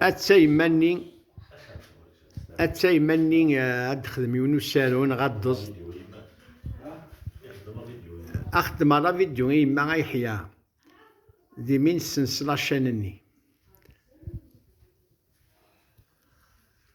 atta yemma-nni atta yemma-nni eh, ad texdem yiwen usaru neɣ ad teẓ ad xedmeɣ la vidyu i yemma ay ḥya d imi nesens lacan-nni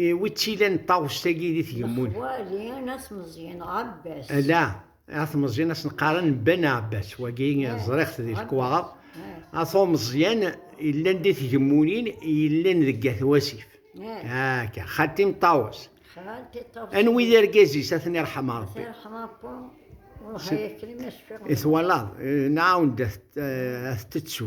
Eh, wi tt-ilan ṭawest-agi di tgemmun? Lexwali At Meẓyan Ɛebbas. Ala, At Meẓyan as neqqaren Ben Ɛebbas, wagi eh, ẓriɣ-t di lekwaɣeḍ. Eh. At Meẓyan yellan di tgemmunin yellan deg At Wasif. Akka, xalti ṭawes. Xalti ṭawes. Anwi d argaz-is ad ten-irḥem Ṛebbi. Twalaḍ, nɛawen-d ad t-tettu.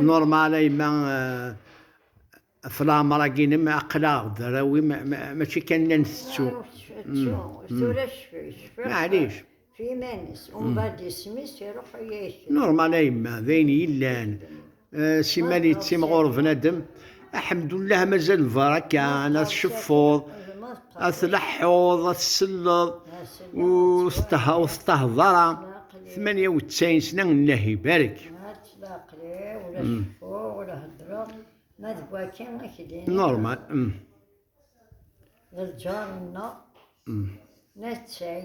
Normal a yemma ɣef eh, leɛmer-agi-inem aql-aɣ-d arraw-i mačči kan la ntettu. Tettu, tura cfiɣ. Maɛlic. F iman-is, umbeɛd isem-is iruḥ u yekcem. Normal a yemma, d ayen yellan. Eh, simmal yettimɣur bnadem. Aḥemdullah mazal lbaraka, ad tceffuḍ, ad tleḥḥuḍ, ad tselleḍ, ur tettehḍ ara. Tmanya u ttɛin sna Allah ibarek. Normal. D lǧar-nneɣ, nettay.